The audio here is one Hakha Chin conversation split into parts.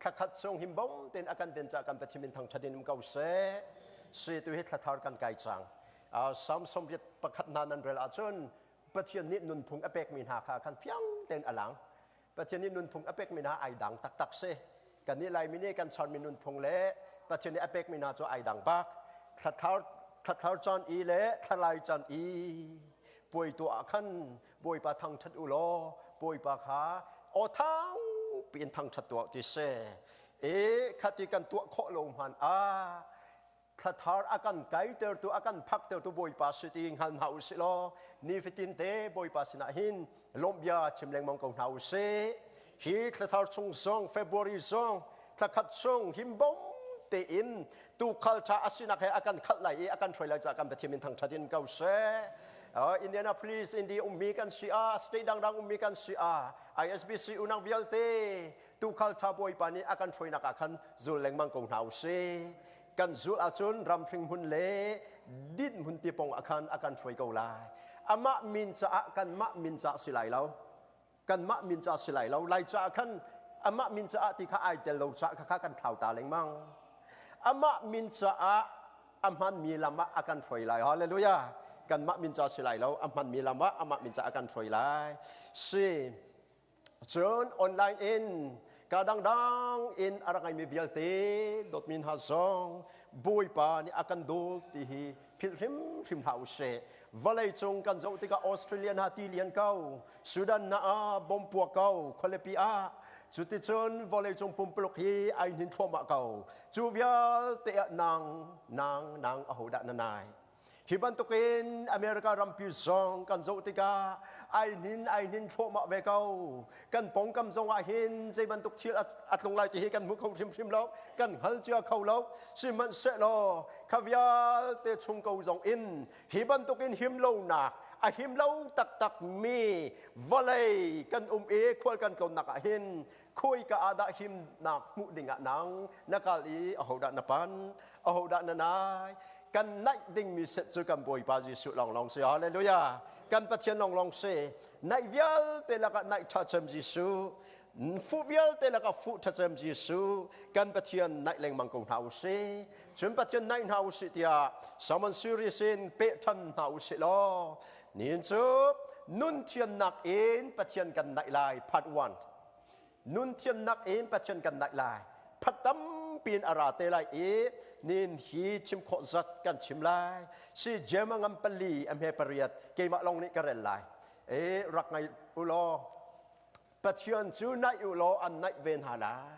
Thlakhat chung himbom tein akan pen ca kan Pathian min thangthat in um ko seh. Si tu hi thlathar kan kai cang. Uh, Psalm sawmriat pakhat hna nan rel ahcun Pathian nih nunphung a pekmi hna kha kan fiang tein a lang. Pathian nih nunphung a pekmi hna ai dang taktak si. Kan nih Laimi nih kan chawnmi nunphung le Pathian nih a pekmi hna cu ai dang bak. Thlathar thlathar chan i le thlalai chan i puai tu ah khan Bawipa thangṭhat u law Bawipa kha aw thang piin thangṭhat tuah ti si. E khati kan tuah khawh lo hman ah thlathar a kan kaitertu a kan phaktertu Bawipa si ti hngal hna u si law nifatin te Bawipa sinah hin lawmh bia chim lengmang ko hna u sih. hi thlathar chung zong february zong thlakhat chung himbom tein tukhal tha asinak he akan khalh lai i akan hruai lai ca kan pathiam in thangthat in ko seh uh, Indianapolis indi ummi kan si a state dangdang ummi kan si a ISBC unang vialte tukhal tha bawipa nih akan hruainak ah khan zul lengmang ko hna usih kan zul ahcun ramhring hmun le din hmun tipong ah khan akan hruai ko lai amah min caah kan mah min caah si lai lo kanmah min ca si lai lo lai caah khan amah min caah ti kha ai tel lo caah kha kan thlau ta lengmang amah min caah a hmanmi lam ah a kan hruai lai hallelujah kanmah min ca si lai lo a hmanmi lam ah amah min caah kan hruai lai si cun online in kadangdang in a ra ngaimi vialte dot min ha zong bawipa nih a kan dawt ti hi philh hrimhrim hlah usih vawlei cung kan zoh tikah Australia na ti lian ko Sudan na ah bom puak ko khualipi ah cuticun vawleicung pumpuluk hi ai hnin thluahmah ko cu vialte ah nang nang nang ahodah na nai hi bantukin America rampi zong kan zoh tikah ai hnin ai hnin thluahmah ve ko kan pongkam zongah hin zeibantuk thil a tlung lai tihi kan hmu kho hrimhrim lo kan hngal cia kho lo sihmanhsehlaw kha vialte chung ko zong in hi bantukin him lonak a him lo taktak mi vawlei kan um i khual kan tlonnak ah hin khuika ah dah himnak hmuh dingah nang na kal i ahodah na pan ahodah na nai kan naih dingmi set cu kan Bawipa Jesuh lawnglawng si haleluya kan Pathian lawnglawng si Naih vialte lakah naih ṭhacem Jesuh, fuh vialte lakah fuh ṭhacem Jesuh, kan Pathian naih lengmang ko hna u sih. Cun Pathian naih hna u sih tiah sermon series in peh ṭhan hna u sih law, nihin cu nun thiannak in Pathian kan naih lai, part one. nun thiamnak in pathian kan naih lai phat tampi in a ra te lai i nin hi chim khawh zat kan chim lai si jema ngam pali a hme pariat keimah long nih ka rel lai e rak ngai u law pathian cu naih u law an naih ve hna lai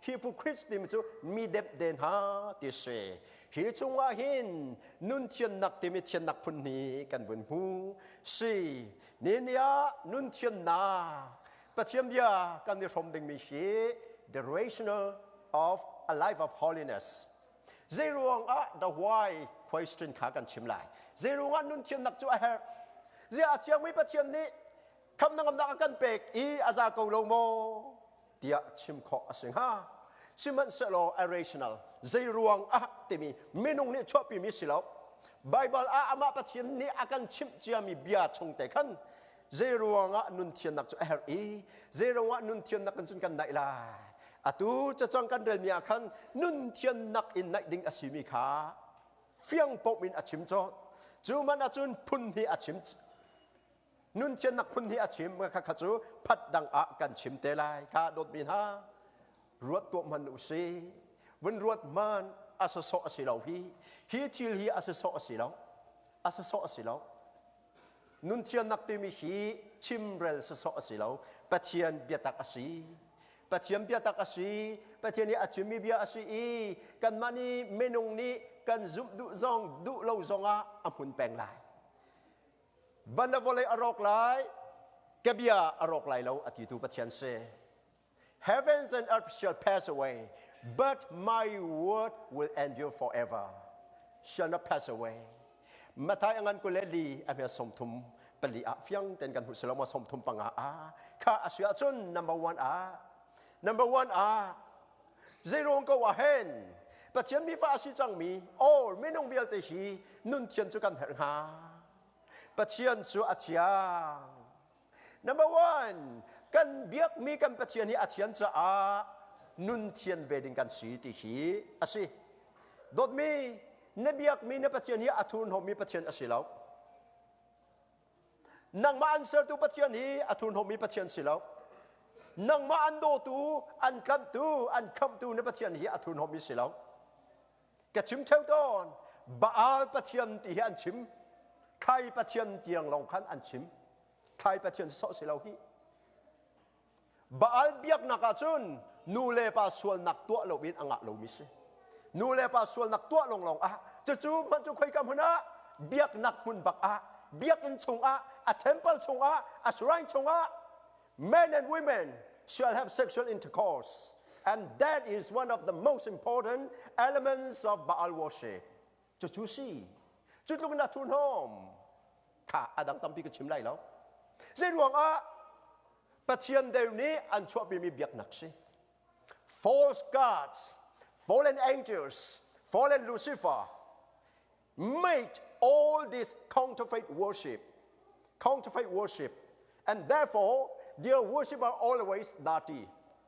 Hypocrites timi cu mi depde hna ti si. Hi chungah hin nun thiannak timi thiannak phun hi kan vun hmu. Si, nihin ni ah nun thiannak Pathian bia kan i hrom dingmi hi the rational of a life of holiness zeiruang ah the why question kha kan chim lai zeiruang ah nun thiannak cu a herh ziah a thiangmi Pathian nih khamnangamnak a kan pek i a za ko lo maw tiah chim khawh a si hnga sihmanhsehlaw irrational zeiruang ah timi minung nih chuahpimi si lo Baibal ah amah Pathian nih a kan chimh ciami bia chung te khan zeiruangah nun thiannak cu a herh i zeiruangah nun thiannak in cun kan naih lai atu cacang kan relmi ah khan nun thiannak in naih ding a simi kha fiang pom in a chim cawt cu man ahcun phun hi a chim Nunthiannak phun hi a chim kha kha cu phat dang ah kan chim te lai kha dawtmi hna ruat tuah hman u si vun ruat man a sasawh a si lo hi hi thil hi a sasawh a si lo a sasawh a si lo nunthiannak timi hi chimrel sasawh a si lo pathian biatak a si pathian biatak a si pathian i a chimmi bia a si i kanmah nih minung nih kan zumh duh zong duh lo zongah a hmun peng lai Van na vawlei a rawk lai, ka bia a rawk lai lo, a titu Pathian si. Heavens and earth shall pass away, but my word will endure forever. Shall not pass away. Mathai angan kule li a hme som thum pali ah fiang ten kan hu seloma som thum panga a kha a suya cun number one a number one a Zeiruang ko ah hen Pathian mi fa a si cangmi all minung vialte hi nunthian cu kan herh hnga. Pathian cu a thiang. Number one, kan biakmi kan Pathian hi a thian caah nun thian ve ding kan si ti hi a si. Dawtmi, na biakmi na Pathian hi a thurhnawmmi Pathian a si lo. Nangmah an sertu Pathian hi a thurhnawmmi Pathian si lo. Nangmah an dawtu, an tlanhtu, an khamhtu na Pathian hi a thurhnawmmi si lo. Ka chim theo tawn. Baal Pathian ti hi an chim. Khai Pathian tiang lawng khan an chim. Khai Pathian sawh si lo hi. Baal biaknak ahcun nulepa sualnak tuah loin a ngah lomi si. Nulepa sualnak tuah lawnglawng ah cucu hmanh cu khoika hmun ah biaknak hmun bak ah biakinn chungah a temple chungah a shrine chungah men and women shall have sexual intercourse and that is one of the most important elements of Baal worship. cucu si cutluk in a thurhnawm tha a dang tampi ka chim lai lo zei ruangah pathian deu nih an chuahpimi biaknak si false gods fallen angels fallen lucifer made all this counterfeit worship counterfeit worship and therefore their worship are always dirty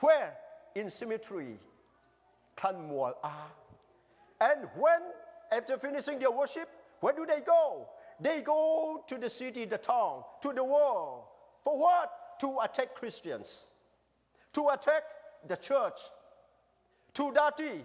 where in cemetery thlanmual ah and when after finishing their worship where do they go they go to the city the town to the world for what to attack christians to attack the church to dirty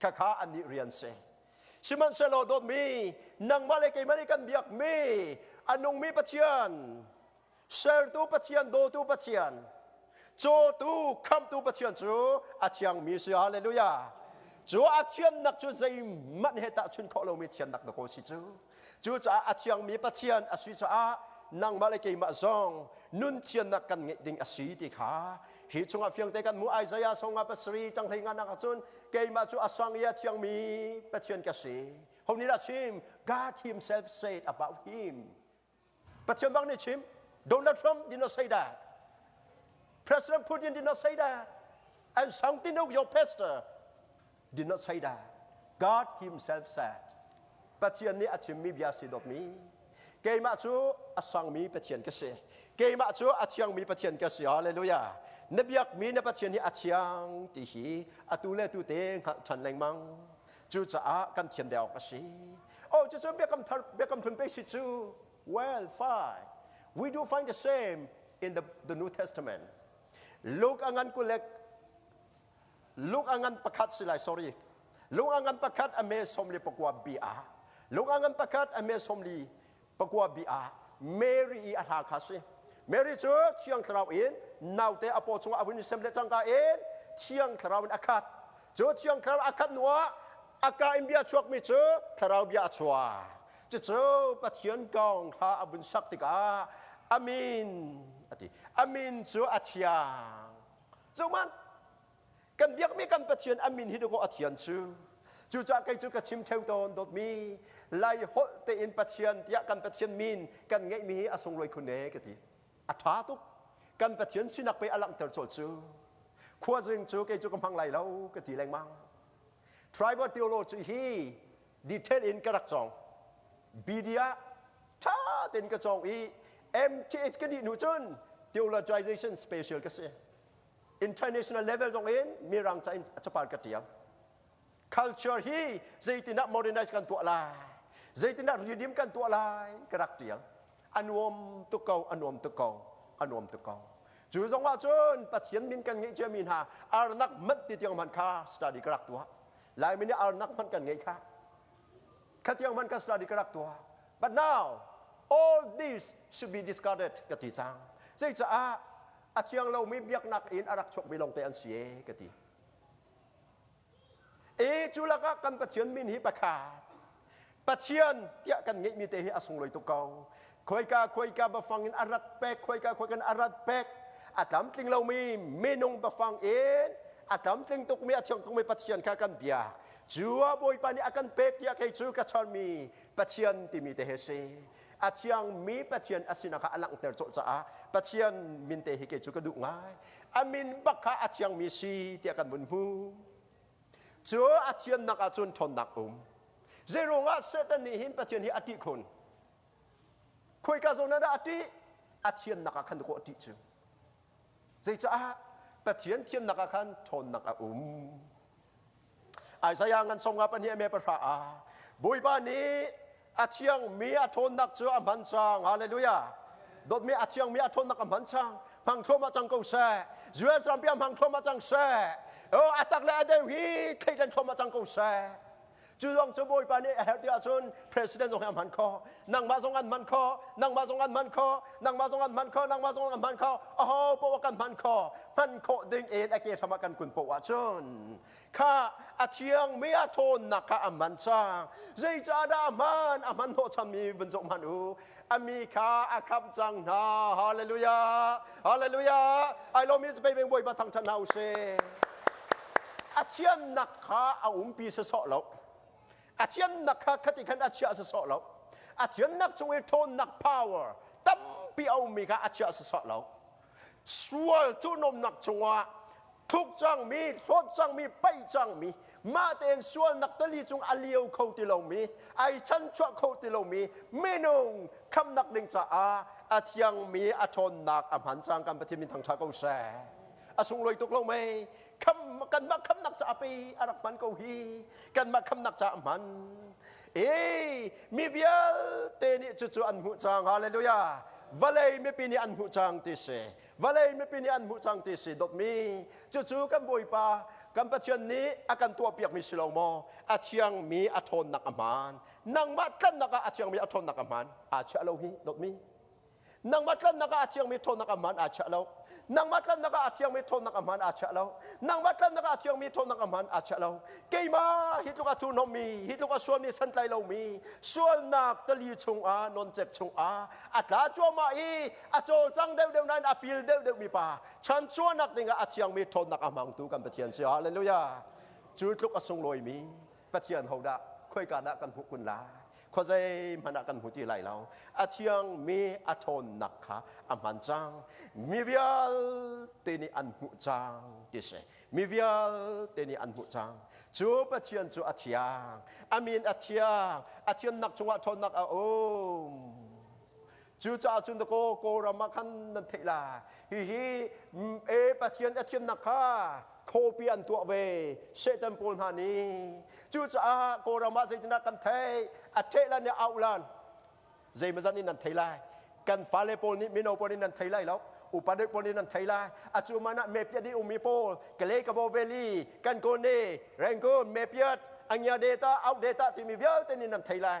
khakha annih rian si sihmanhsehlaw dawtmi nangmah le keimah nih kan biakmi a nungmi Pathian sertu Pathian dawtu Pathian cawtu khamtu Pathian cu a thiangmi si halleluja cu a thiannak cu zeihmanh he tahchunh khawh lomi thiannak na ko si cu Cucaah a thiangmi Pathian a si caah nangmah le keimah zong nun thiannak kan ngeih ding a si ti kha hi chungah fiangte kan hmuh Isaiah song ah pasarih cang hlei nganak ahcun keimah cu a sang i a thiangmi Pathian ka si. Ho nih dah chim? God himself said about him. Pathian bang nih chim Donald Trump did not say that. President Putin did not say that. And Sang Tinuk, your pastor, did not say that. God himself said. Pathian nih a chimmi bia si dawtmi, keimah cu a sangmi Pathian ka si. Keimah cu a thiangmi Pathian ka si. Hallelujah. Na biakmi na Pathian hi a thiang ti hi atu le tute hngalh ṭhan lengmang. Cucaah kan thian deuh awk a si. Oh, cucun Biakam, Thar, Biakam Hlun pek si cu, well, fine. We do find the same in the, the New Testament. Luke a ngan kulek, Luke a ngan pakhat si lai, sorry. Luke a ngan pakhat a me somli pakua bi ah. Luke a ngan pakhat a me somli pakua bi ah Mary i a hla kha si. Mary cu thiang thlarau in naute a paw chungah a vun i sem le cangka in thiang thlarau in a khat. Cu thiang thlarau a khat hnuah a ka in bia chuakmi cu thlarau bia a chuah. Cucu Pathian kong hla a vun sak tikah amin a ti. Amin cu a thiang. Cu man kan biakmi kan pathian an min hi dukawh a thian cu cucah kei cu ka chim theo tawn dawtmi lai holh tein pathian tiah kan pathian min kan ngeihmi hi a sunglawi khun e ka ti a ṭha tuk kan pathian sinak pei a langhter cawlh cu khuazing cu kei cu ka hmang lai lo ka ti lengmang tribal theology hi detail in ka rak cawng BD ah ṭha tein ka cawng i MTH ka dih hnu cun theologization special ka si international level zong in mirang ca in capar ka tial culture hi zeitinah modernize kan tuah lai zeitinah redeem kan tuah lai ka rak tial a nuam tuk ko a nuam tuk ko a nuam tuk ko cu zong ah cun pathian min kan ngeih cia mi hna arnak manh ti tiang hman kha study ka rak tuah lai min arnak hman kan ngei kha kha tiang hman ka study ka rak tuah but now all this should be discarded ka ti cang zei caah a thiang lomi biaknak in a rak chuakmi lawngte an si e ka ti. E cu lakah kan Pathian min hi pakhat Pathian tiah kan ngeihmi te hi a sunglawi tuk ko. Khoika khoika bafang in a rat pek, khoika khoika in a rat pek, a tlamtling lomi minung bafang in a tlamtling tukmi, a thiang tukmi Pathian kha kan biak. Cu a Bawipa nih a kan pek tiah kei cu ka chawnmi Pathian timi te hi si. a thiangmi Pathian a sinak kha a langhter colh caah Pathian minte hi kei cu ka duh ngai a min bak kha a thiangmi si tiah kan vun hmu cu a thiannak ahcun ṭhawnnak um zei ruangah Satan nih hin Pathian hi a ṭih khun khoika zawn ah dah a ṭih a thiannak ah khan kawh a ṭih cu Zeicah Pathian thiamnak ah khan ṭhawnnak a um? Isaiah ngan song nga pahnih a me pahra ah Bawipa nih a thiangmi a ṭhawnnak cu a hman cang. Hallelujah. Dawtmi a thiangmi a ṭhawnnak a hman cang. Hmang thluamah cang ko seh. Israel rampi ah hmang thluamah cang seh. Oh, a tak le a deu hi thleidan thluamah cang ko seh. Cu zong cu Bawipa nih a herh tiah cun President zong hi a hman kho. Nangmah zong an hman kho. Nangmah zong an hman kho. Nangmah zong an hman kho. Nangmah zong an hman kho. Aho poah kan hman kho. Hman khawh ding in a ke hram ah kan kun poh ahcun kha a thiangmi a ṭhawnnak kha a man cang. Zeicahdah a hman? A hmanhnawh chammi vun zoh hmanh u. a mi kha a khamh cang hna. Hallelujah. Hallelujah. I love is baby bawipa thang ṭhan hna u sih. A thiannak kha a umpi sasawh lo. A thiannak kha khati khan a chiah sasawh lo. A thiannak chung i ṭhawnnak power tampi a ummi kha a chiah sasawh lo. sual thurhnawmnak cungah thluk cangmi hlawt cangmi paih cangmi mah tein sualnak tali cung a liau kho ti lomi ai chanchuah kho ti lomi minung khamnak ding caah a thiangmi a ṭhawnnak a hman cang kan Pathian min thangṭha ko seh a sunglawi tuk lo mei kan mah khamnak caah pei a rak hman ko hi kan mah khamnak caah hman Hey, mi vialte nih cucu an hmuh cang. Hallelujah. Vawlei mipi nih an hmuh cang ti si. Vawlei mipi nih an hmuh cang ti si dotmi. Cucu kan Bawipa, kan Pathian nih a kan tuahpiakmi si lo maw? A thiangmi a ṭhawnnak a hmaan. Nangmah tlannak ah a thiangmi a ṭhawnnak a hmaan. Aa chiah lo hi dotmi. nangmah tlannak ah a thiangmi ṭhawnnak a hmaan aa chiah lo nangmah tlannak ah a thiangmi ṭhawnnak a hmaan aa chiah lo nangmah tlannak ah a thiangmi ṭhawnnak a hmaan aa chiah lo keimah hi tluk a thurhnommi hi tluk a sualmi santlai lomi sualnak tali chungah noncek chungah a tla cuahmah i a cawlcang deuhdeuh nain a pil deuhdeuh mi pa chan chuahnak dingah a thiangmi ṭhawnnak a hmangtu kan Pathian si haleluya cu tluk a sunglawimi Pathian hodah khoikan ah kan hmuh kun lai? Khuazei hmanh ah kan hmu ti lai lo. A thiangmi a ṭhawnnak kha a hman cang. Mi vialte nih an hmuh cang ti si. Mi vialte nih an hmuh cang. Cu Pathian cu a thiang. A min a thiang. A thiannak cungah ṭhawnnak a um. Cucaah cun kaw Kawlram ah khan nan theih la hihi e Pathian a thiamnak kha khuapi an tuah ve Satan pawl hna nih cucaah Kawlram ah zeitindah kan theih a theh lan nih auh lan zeimazat nih nan thei lai kan fale pawl nih mino pawl nih nan thei lai lo upadek pawl nih nan thei lai acu man ah mepiat i ummi pawl kalekabaw valley kankone rangoon mepiat angia data out data timi vialte nih nan thei lai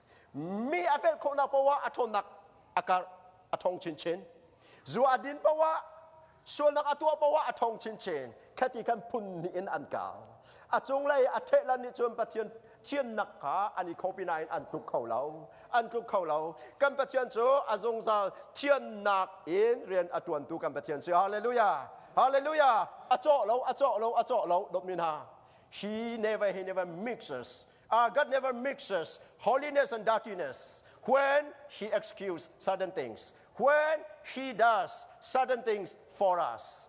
mi a felh khawhnak poah a ṭhawnnak a karh a ṭhong chinchin zu a din poah sualnak a tuah poah a ṭhong chinchin khati khan phun hnih in an kal a cunglei a ṭhehlan nih cun pathian thiannak kha an i khopi nain an tluk kho lo an tluk kho lo kan pathian cu a zungzal thiannak in rian a ṭuantu kan pathian si hallelujah hallelujah a cawh lo a cawh lo a cawh lo dawtmi hna he never he never mixes uh, God never mixes holiness and dirtiness when He excuses certain things, when He does certain things for us.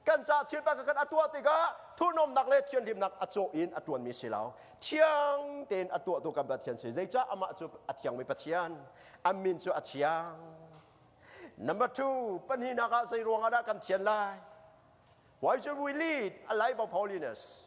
Kan ca thil pa kan atuah tikah thurhnawmnak le thianhlimnak a cawh in a tuanmi si lo. Thiang tein a tuahtu kan Pathian si. Zeicah amah cu a thiangmi Pathian, a min cu a thiang. Number two, pahnihnak ah zei ruang ah dah kan thian lai? Why should we lead a life of holiness?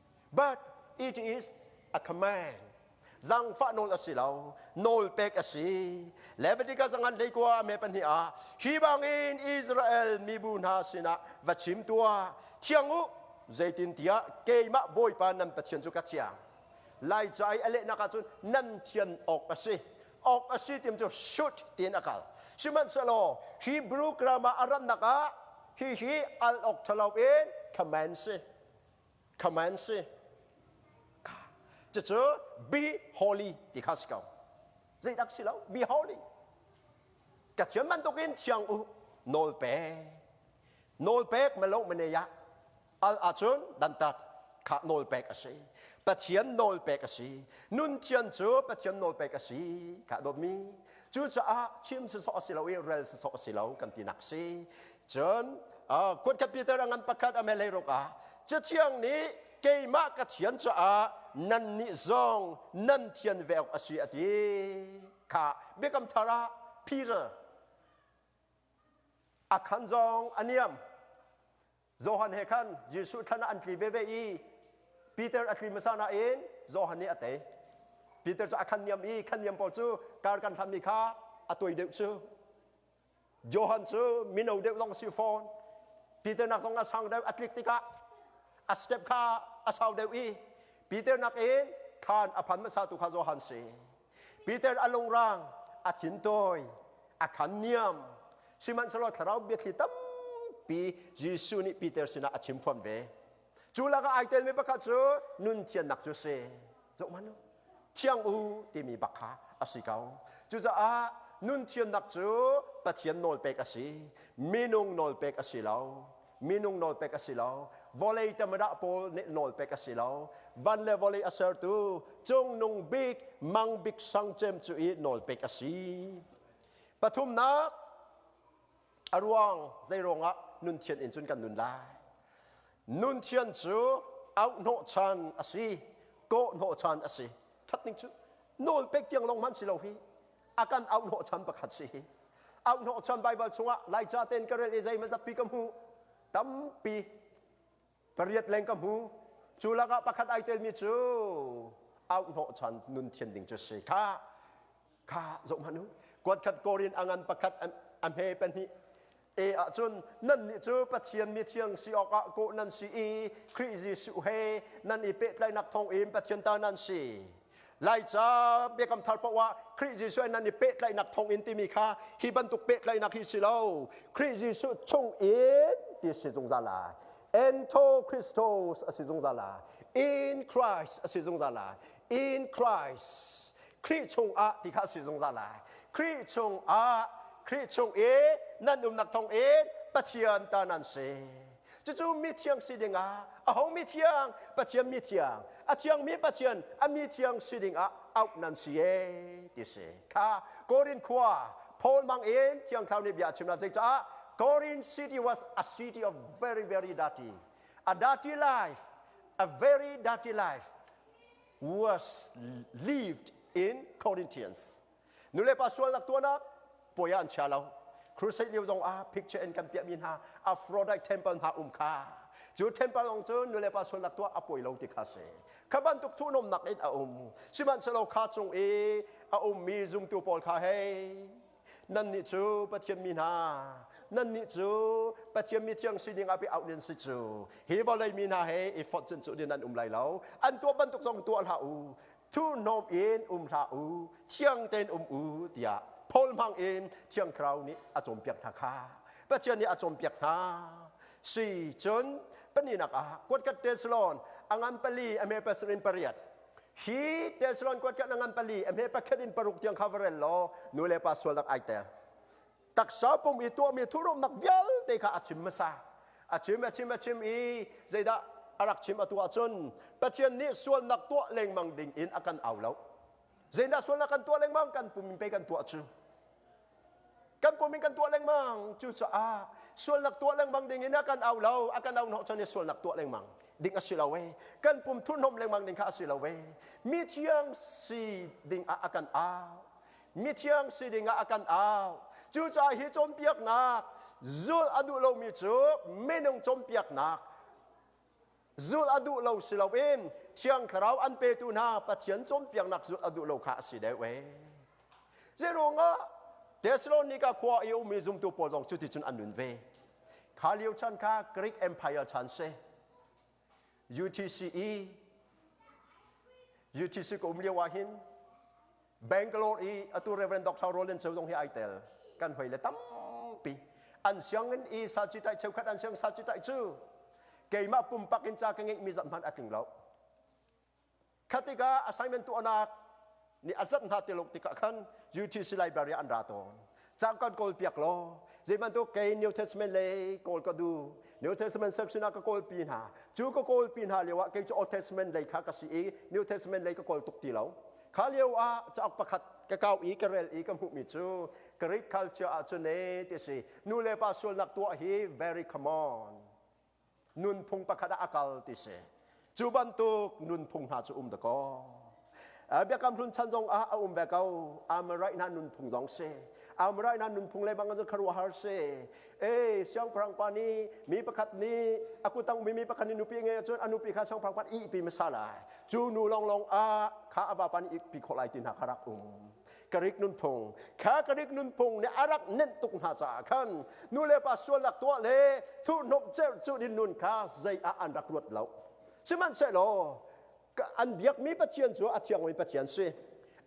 But it is a command. Zangfah nawl a si lo. Nawl pek a si. Leviticus angan lei kua me pahnih ah hi bangin Israel mibu hna sinah va chim tua thiang u zeitin tiah keimah bawipa nan pathian cu ka thiang lai ca i a lehnak ah cun nan thian awk a si awk a si tim cu shut tiin a kal sihmanhsehlaw Hebrew grammar a rannak ah hihi al awk ṭhalo in command si Command si. Cucu be holy ti kha si ko. Zeidak si lo, be holy. Cathiam bantukin thiang u nawl pek. Nawl pek ma lo mane ya. Al ahcun dantat kha nawl pek a si. Pathian nawl pek a si. Nun thian cu Pathian nawl pek a si. Ka dawtmi. Cucaah chim sisawh a si lo i rel sisawh a si lo kan tinak si. Cun kuatkhat Peter a ngan pakhat a melei ruk ah Cathiang nih keimah ka thian caah nannih zong nan thian ve awk a si a ti kha Biakam Thar ah Peter a khan zong a niam Johan he khan Jesuh thlan ah an tli veve i Peter a tli hmasa nain Johan nih a tei Peter cu a khan niam i khan niam pawl cu kar kan hlammi kha a tuai deuh cu Johan cu mino deuh zong si fawn. Peter nak zong a sang deuh a tlik tikah a step kha a sau deuh i Peter nak in thlan a phan hmasa tu kha Johan si. Peter a lungrang a thintawi a khan niam sihmanhsehlaw thlarau biathli tampi Jesuh nih Peter sinah a chim fawn ve. Cu lakah ai telmi pakhat cu nun thiannak cu si. Zoh hmanh u. Thiang u timi bak kha a si ko. Cucaah nun thiannak cu Pathian nawlpek a si. Minung nawlpek a si lo. Minung nawlpek a si lo. Vawlei tamadah pawl nih nawlpek a si lo. Van le vawlei a sertu Cungnung Bik Mang Bik Sang Cem cu i nawlpek a si. Pathumnak, A ruang zeiruang ah nunthian in cun kan nun lai? Nunthian cu auhnawh chan a si, kawhnawh chan a si. Ṭhat ning cu nawlpek tiang lawng hmanh si lo hi a kan auhnawh chan pakhat si hi. Auhnawh chan Baibal chungah Laica tein ka rel i zeimazappi ka hmuh tampi Pariat leng ka hmu. Cu lakah pakhat ai telmi cu auh hnawhchan nun thian ding cu si kha kha zoh hmanh u. Kuat khat Korin a ngan pakhat a hme pahnih e ahcun nannih cu Pathian mi thiang si awkah kawh nan si i Khrih Jesuh he nan i pehtlainak thawngin Pathian ta nan si. Laica biakam thar paoh ah Khrih Jesuh nan i pehtlaihnak thawngin timi kha hi bantuk pehtlaihnak hi si lo. Khrih Jesuh chung in ti si zungzal lai. Ento Christos a si zungzal lai. In Christ a si zungzal lai. In Christ. Khrih chungah ti kha a si zungzal lai. Khrih chungah Khrih chung i nan umnak thawngin Pathian ta nan si. cucu mithiang si dingah aho mithiang pathian mithiang a thiangmi pathian a mithiang si dingah auh nan si e ti si kha korin khua paul mang in thiangthlau nih bia a chimna zeicah korin city was a city of very very dirty a dirty life a very dirty life was lived in Corinthians Nulepa sualnak tuahnak puai ah an chia lo. Crusade lio zong ah picture in kan piahmi hna Aphrodite temple hna um kha cu temple lawng cu nulepa sualnak tuah a poi lo ti kha si. Kha bantuk thuhnomnak in a um. Sihmanhsehlaw kha chung i a ummi zumtu pawl kha hei nannih cu Pathian mi hna nannih cu Pathian mi thiang sining ah bia auh nin si cu hi vawlei mi hna he i fortune cu din an um lai lo an tuah bantuk zong tuah hlah u thurhnawm in um hlah u thiang tein um u tiah Paul hmang in thiang thlarau nih a cawnpiak hna kha Pathian nih a cawnpiak hna si cun pahninak ah kuatkat Tesalon angan pali ame pasuk in pariat hi Tesalon kuatkat angan pali ame pakhat in paruk tiang kha va rel law nu le pa sual rak ai tel taksa pum i tuahmi thuhromnak vialte kha a chim hmasa a chim a chim a chim i zeidah a rak chim a tuah cun Pathian nih sualnak tuah lengmang ding in a kan au lo zeidah sualnak kan tuah lengmang kan pum in pei kan tuah cu kan pum in kan tuah lengmang cucaah sualnak tuah lengmang ding in a kan au lo a kan au hnawh cun sualnak tuah lengmang ding a si lo e kan pum thurhnom lengmang ding kha a si lo e mi thiang si ding ah a kan au mithiang si dingah a kan au cucaah hi cawnpiaknak zul a duh lomi cu minung cawnpiaknak zul a duh lo si loin thiang thlarau an petu hna pathian cawnpiaknak zul a duh lo kha a si deuh ee zeiruangah Thessalonica khua i ummi zumtu pawl zong cuticun an nun ve kha lio chan kha Greek Empire chan si UTCE UTC ka um lio ah hin Bangalore i atu Reverend Dr. Roland Cheu zong hi ai tel kan hoi le tampi an siangin i sa ci tai cheukhat an siang sa ci tai cu keimah pumpak in ca ka ngeih mi zat hmanh a tling lo Kha tikah assignment tuahnak nih a zat hna te lo tikah khan UTC library ah an ra tawn. Cang kan kawl piak law zeibantuk kei New Testament lei kawl ka du New Testament section ah ka kawlpi hna cu ka kawlpi hna lio ah kei cu Old Testament lei kha ka si i New Testament lei ka kawl tuk ti lo kha lio ah cauk pakhat ka kau i ka rel i ka hmuhmi cu Greek culture ahcun ne ti si nu le pa sualnak tuah hi very come on nunphung pakhat ah a kal ti si cu bantuk nunphung hna cu um dakaw biakam hlun chan zong ah a um ve ko amaraihna nunphung zong si amaraihna nunphung lebang cu kharuahar si eh siangpahrang pa nih mi pakhat nih a kutang mi mi pakhat nih nupi nge cun a nupi kha siangpahrang pa ih pi masala cu nu long long ah kha a vapa nih ih pi khawh lai ti hna kha rak um Karik nunphung kha Karik nunphung nih a rak nenh tuk hna caah khan nulepa sualnak tuah le thurhnawmh cerh cu din nun kha zei ah an rak ruat lo. Sihmanhsehlaw an biakmi Pathian cu a thiangmi Pathian si.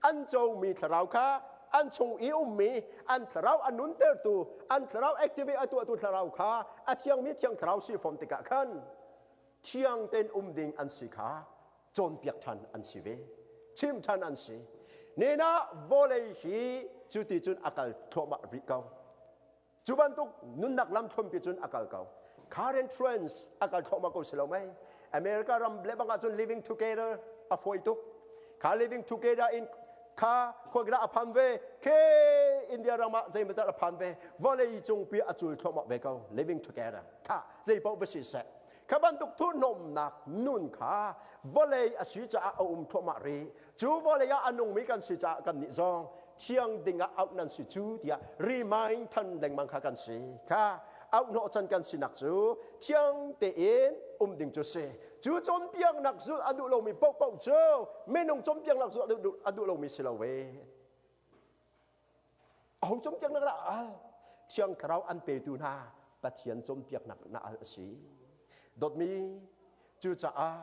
An cawngmi thlarau kha an chung i ummi an thlarau a nuntertu an thlarau activate a tuahtu thlarau kha a thiangmi thiang thlarau si fon tikah khan thiang tein um ding an si kha cawnpiak ṭhan an si ve chimh ṭhan an si nenah vawlei hi cu ti cun a kal thluahmah rih ko cu bantuk nunnak lam thuampi cun a kal ko current trends a kal thluahmah ko si lo mei america ram lebang ah cun living together a fawi tuk kha living together in kha khuakila a phan ve khe india ram ah zeimatar a phan ve vawlei cung pi a cul thluahmah ve ko living together kha zei paoh va si seh Kha bantuk thuhnawmnak nun kha vawlei a si caah a um thluahmah rih. Cu vawlei ah a nungmi kan si caah kannih zong thiang ding ah auh nan si cu tiah remind than lengmang kha kan si. Kha auhnawh can kan sinak cu thiang tein um ding cu si. Cu cawnpiaknak zulh a duh lomi paohpaoh cu minung cawnpiaknak zulh a duh, a duh lomi si lo ve. Aho cumpiak nak dah al? Thiang Thlarau an petu hna Pathian cumpiak nak na al a si. Dotmi cucaah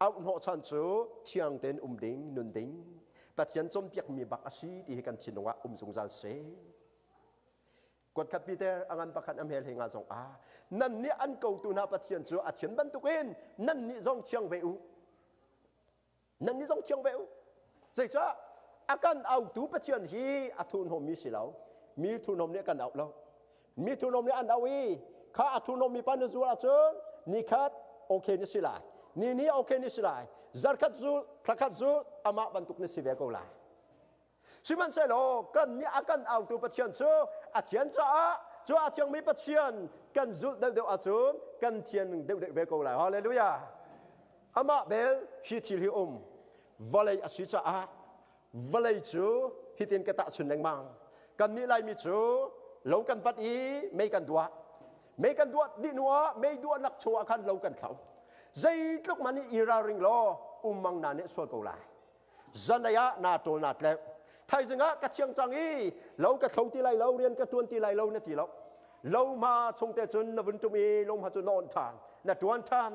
auh hnawh chan cu thiang tein um ding, nun ding, Pathian cumpiak mi bak a si ti hi kan thinlung ah um zungzal se. Kuatkhat Peter angan pakhat amhel he nga zong ah nan nih an kotu hna Pathian cu a thian bantukin nan nih zong thiang ve u nan i zong thiang ve u zeicah a kan autu Pathian hi a thurhnawmmi si lo mi thurhnawm nih kan auh lo mi thurhnawm nih an auh i kha a thurhnawm mipa na zul ahcun ni khat okay na si lai ni ni okay na si lai zarkhat zul thlakhat zul amah bantuk na si ve ko lai Sihmanhsehlaw kan nih a kan autu Pathian cu a thian caah cu a thiangmi Pathian kan zulh deuhdeuh ahcun kan thian deuhdeuh ve ko lai. Halleluja! Amah bel hi thil hi um vawlei a si caah vawlei cu hitin ka tahchun lengmang. Kannih Laimi cu lo kan vat i mei kan duah. Mei kan duah dih hnuah mei duahnak chungah khan lo kan thlo. Zeitluk man nih i ralring law ummang na nih sual ko lai. zanei ah naa ṭawl naa tleng thaizing ah ka thiang cang i lo ka thlo ti lai lo rian ka ṭuan ti lai lo na ti lo lohma chung te cun na vun ṭum i lohma cu na awnh ṭhan na ṭuan ṭhan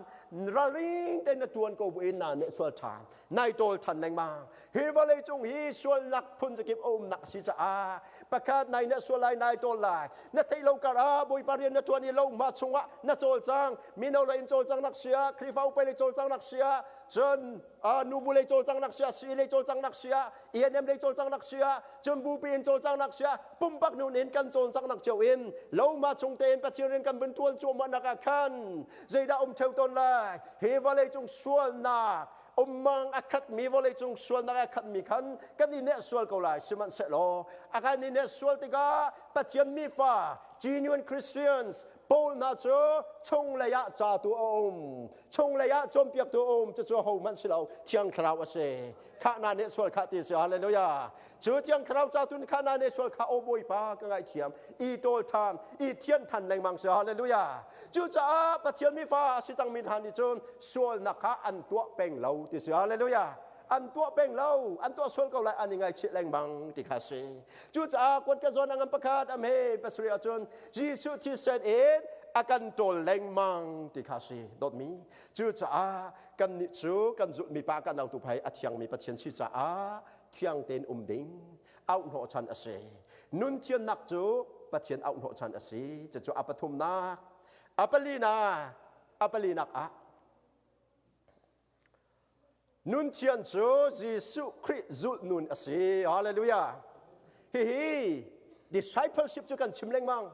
raling te na ṭuan ko bu in naa neh sual ṭhan nai ṭawl ṭhan lengmang hi vawlei cung hi sualnak phun zakip a umnak a si caah pakhat nai neh sual lai nai ṭawl lai na theih lo kar ah bawipa rian na ṭuan i lohma chungah na cawl cang mino lei in cawl cang nak sia khrihfa upai lei cawl cang nak sia cun nubu lei cawlcang nak sia si lei cawlcang nak sia ENM lei cawlcang nak sia cun bupi in cawlcang nak sia pumpak nun in kan cawlcang nak cheu in loma chung te in pathian in kan vun tuan chuah ma nak ah khan zeidah um theo ton lai he vawlei cung sualnak ummang akhat mi vawlei cung sualnak akhat mi khan kan i ne sual ko lai siman se lo akan i ne sual tikah pathian mi fa genuine christians Paul hna cu chunglei ah catu a um chunglei ah cawnpiaktu a um cucu hohmanh si lo thiang thlarau a si khah na nih sual khah ti si hallelujah cu thiang thlarau catu nih khah na nih sual khah o bawipa ka ngaithiam i ṭawl ṭhan i thian ṭhan lengmang si hallelujah cucaah Pathian mi fa si cang mi hna nih cun sualnak kha an tuah peng lo ti si hallelujah an tuah peng lo an tuah sual ko lai an i ngaichih lengmang ti kha si cucaah kuat ka zawn angam pakhat am he pasarih ahcun Jesuh thisen in a kan ṭawl lengmang ti kha si dawtmi cucaah kannih cu kan zulhmi pa kan autu phai a thiangmi Pathian si caah thiang tein um ding auhhnawh chan a si nun thiannak cu Pathian auhhnawh chan a si cucu a pathumnak a palinak a palinak ah Nunthiang cu Jesuh Khrih zulhnun a si. Hallelujah. Hihi discipleship cu kan chim lengmang.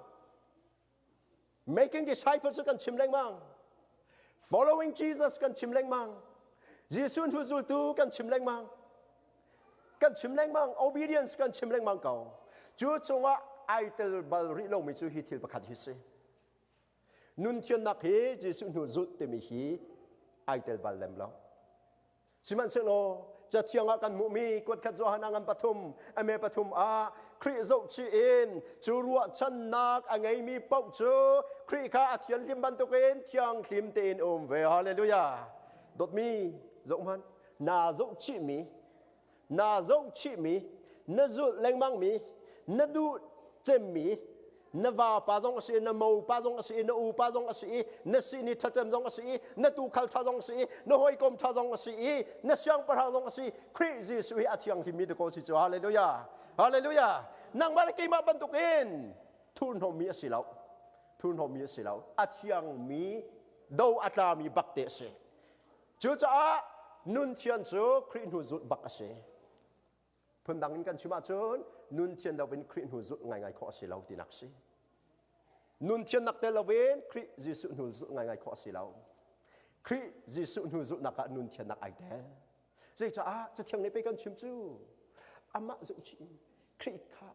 Making disciples cu kan chim lengmang. Following Jesus kan chim lengmang. Jesuh hnu zultu kan chim lengmang. Kan chim lengmang. Obedience kan chim lengmang ko. Cu cungah ai tel bal rih lomi cu hi thil pakhat hi si. nun thiannak hi Jesuh hnu zulh timi hi ai tel bal lem lo sihmanhsehlaw cathiang ah kan hmuhmi kuatkhat Johanna ngan pathum ame pathum ah Khrih zohchih in cu ruahchannak a ngeimi paoh cu Khrih kha a thianhlim bantukin thianghlim tein um ve hallelujah dawtmi zoh hmanh naa zohchihmi naa zohchihmi, na zulh lengmangmi, na duh cemmi, na vapa zong a si i na mopa zong a si i na upa zong a si i na sihni ṭhacem zong a si i na tuukhal ṭha zong a si i na hawikom ṭha zong a si i na siangpahrang zong a si Khrih Jesuh hi a thianghlimmi ti ko si cu halleluja halleluja nangmah le keimah bantuk in thurhnawmmi a si lo thurhnawmmi a si lo a thiangmi do a tlami bakte a si Cucaah nunthian cu Khrih hnu zulh bak a si. Phundang in kan chim ahcun nunthian loin Khrih hnu zulh ngaingai khawh a si lo tinak si. Nunthian nak tel loin Khrih Jesuh hnu zulh ngaingai khawh a si lo. Khrih Jesuh hnu zulhnak ah nunthian nak ai tel. Zeicah? Cathiang nih pei kan chim cu amah zumh chih in Khrih kha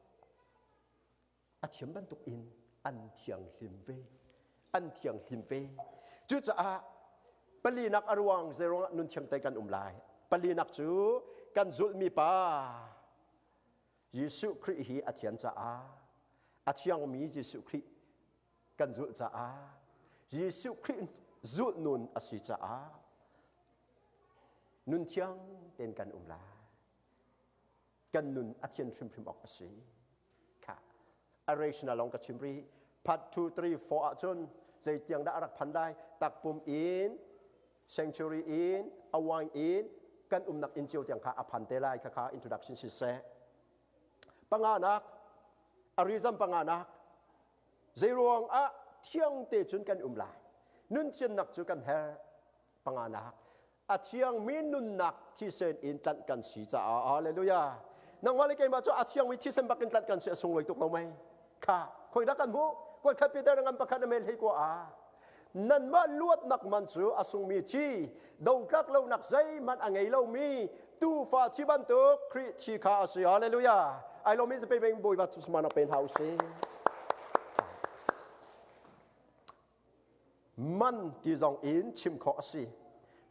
a thiam bantuk in an thianghlim ve an thianghlim ve cucaah palinak a ruang zeiruang ah nunthiang tei kan um lai palinak cu kan zulhmi pa Jesuh Khrih hi a thian caah a thiangmi Jesuh Khrih kan zulh caah Jesuh Khrih zulh nun a si caah nunthiang tein kan um lai kan nun a thian hrimhrim awk a si kha a rational lawng ka chim ri part 2 3 4 ahcun zeitiang dah a rak phan dai takpum in sanctuary in a wine in kan umnak inn cio tiang kha a phan te lai khakha introduction si se panganak arizam panganak zeiruang ah thiang te cun kan um lai nun thiannak cu kan her panganak a thiangmi nunnak thisen in tlanh kan si caah hallelujah nangmah le keimah cu a thiangmi thisen bak in tlanh kan si a sunglawi tuk lo mei kha khoidah kan hmuh kuat khat Peter ngan pakhat na mel hei kwa a nanmah luatnak man cu a sungmi thi dotlak lonak zeihmanh a ngei lomi tuufa thi bantuk Khrih thi kha a si hallelujah ai lomi zape beng bawiba tu sama na pe hna usih man ti zong in chim khawh a si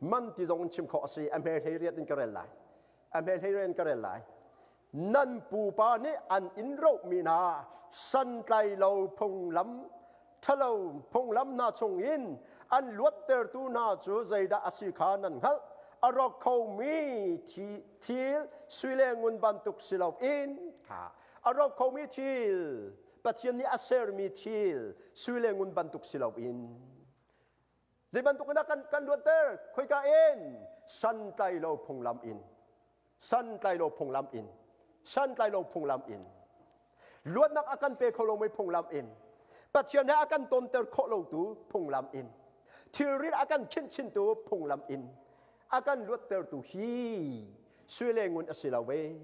man ti zong in chim khawh a si a hme hlei riat in ka rel lai a hme hlei riat in ka rel lai nan pupa nih an in rohmi hna santlai lo phunglam ṭhalo phunglam hna chung in an luattertu hna cu zeidah a si kha nan hngalh a rawk khomi thil sui le ngun bantuk si loin a rawk khomi thil Pathian nih a sermi thil sui le ngun bantuk si loin Zei bantuk in dah kan, kan luatter? Khoika in? Santlailo phunglam in. Santlailo phunglam in. Santlailo phunglam in. Luatnak a kan pe kho lomi phunglam in. Pathian he a kan tonter khawh lotu phunglam in. Thilrit a kan khinchintu phunglam in. A kan luattertu hi sui le ngun a si lo ve.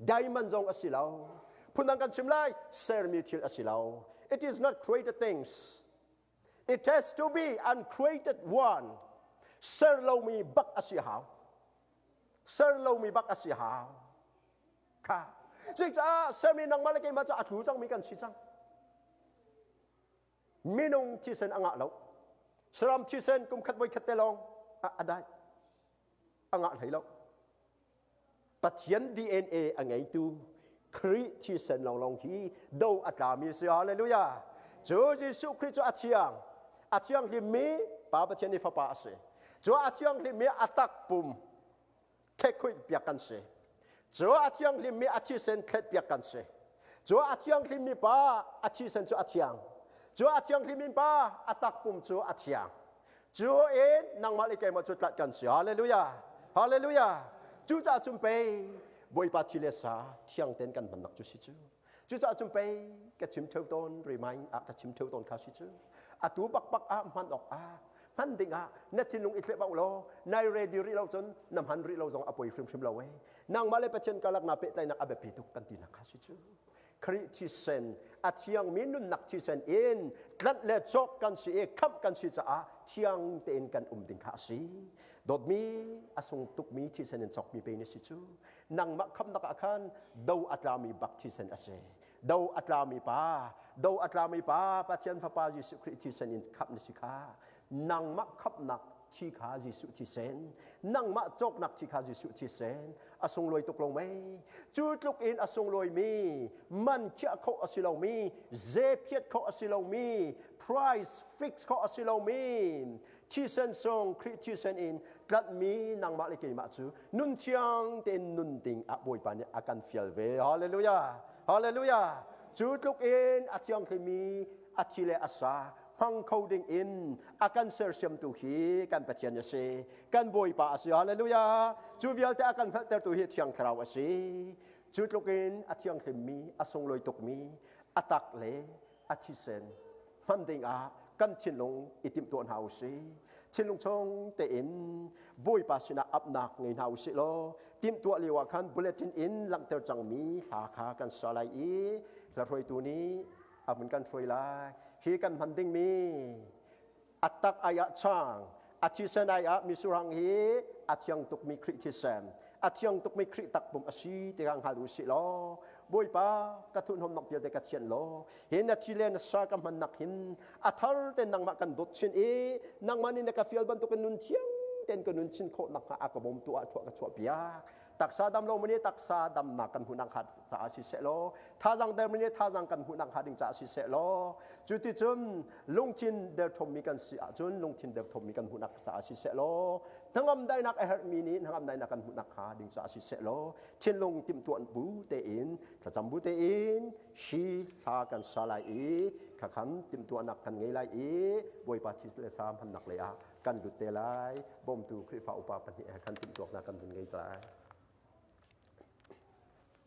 diamond zong a si lo phundang kan chim lai sermi thil a si lo it is not created things it has to be uncreated one ser lomi bak a si hau ser lomi bak a si hau kha cucaah semi nangmah le keimah cu a tlu cangmi kan si cang minung thisen a ngah lo saram thisen kum khat voi khat te lawng a dai a ngah hlei lo pathian dna a ngeitu Khrih thisen lawnglawng hi do a tlami si hallelujah cu Jesuh Khrih cu a thiang a thianghlim mi pa Pathian i fapa a si cu a thianghlim mi a tak pum thekhuihpiak kan si. Cu a thianghlimmi a thisen thletpiak kan si. Cu a thianghlimmi pa a thisen cu a thiang. Cu a thianghlimmi pa a takpum cu a thiang. Cu in nangmah le keimah cu tlat kan si. Hallelujah! Hallelujah! Cucaah cun pei Bawipa thi le sa thiang tein kan hmannak cu si cu. Cucaah cun pei ka chim theo tawn remind ah ka chim theo tawn kha si cu atu bakbak ah hman awk ah hman ding ah na thinlung i thlep law nai ready rih lo cun na hman rih lo zong a poi hrimhrim lo eh nangmah le pathian karlak na pehtlainak a biapi tuk kan tinak kha si cu Khrih thisen a thiangmi nunnak thisen in tlanh le cawk kan si i khamh kan si caah thiang tein kan um ding kha a si dawtmi a sung tukmi thisen in cawkmi pe ni si cu nangmah khamnak ah khan do a tlami bak thisen a si do a tlami pa do a tlami pa pathian fapa jesuh khrih thisen in khamh na si kha nangmah khamhnak thi kha jesuh thisen nangmah cawknak thi kha jesuh thisen a sunglawi tuk lo mei cu tluk in a sunglawimi man khiah kho a si lomi zephiat kho a si lomi price fix kho a si lomi thisen sawng Khrih thisen in tlanhmi nangmah le keimah cu nun thiang tein nun ding a Bawipa nih a kan fial ve. Hallelujah! Hallelujah! Cu tluk in a thianghlimi a thi le a sa hmang kho ding in a kan sersiamtu hi kan Pathian a si. Kan Bawipa a si. Hallelujah! Cu vialte a kan hngalhtertu hi Thiang Thlarau a si. Cu tluk in a thianghlimmi, a sunglawi tukmi, a tak le a thisen hman dingah kan thinlung i timtuah hna u si thinlung chung tein bawipa sinah apnak ngei hna u si law timtuah lio ah khan bulletin in langhter cangmi hla kha kan sa lai i hla hruaitu nih a hun kan hruai lai hi kan hman dingmi a tak ai ah chang a thisen ai ah misurang hi a thiang tukmi Khrih thisen a thiang tukmi Khrih takpum a si ti ka hngal ru si law Bawipa ka thun hom nok te ka thian law hi na thi le na sa ka hman nak hin a thar ten nangmah kan dot chin i nangmah nih na ka fial bantukin nun thiang ten ka nun chin khawh nak hnga a ka bom tu ah thuah ka chuah piak taksa dam lo mene taksa damnak kan hmuhnak hnga caah si seh law thazang der mene thazang kan hmuhnak hnga ding caah si seh law cuticun lungthin derthawmmi kan si ahcun lungthin derthawmmi kan hmuhnak caah si seh law hnangam dainak a herhmi nih hnangam dainak kan hmuhnak hnga ding caah si seh law thinlung timtuan bu tein thlacam bu tein hi hla kan sa lai i khakhan timtuanak kan ngei lai i bawipa thi le sa hmannak lei ah kan lut te lai bawmtu Khrihfa upa pahnih he khan timhtuak hna kan vun ngei te lai.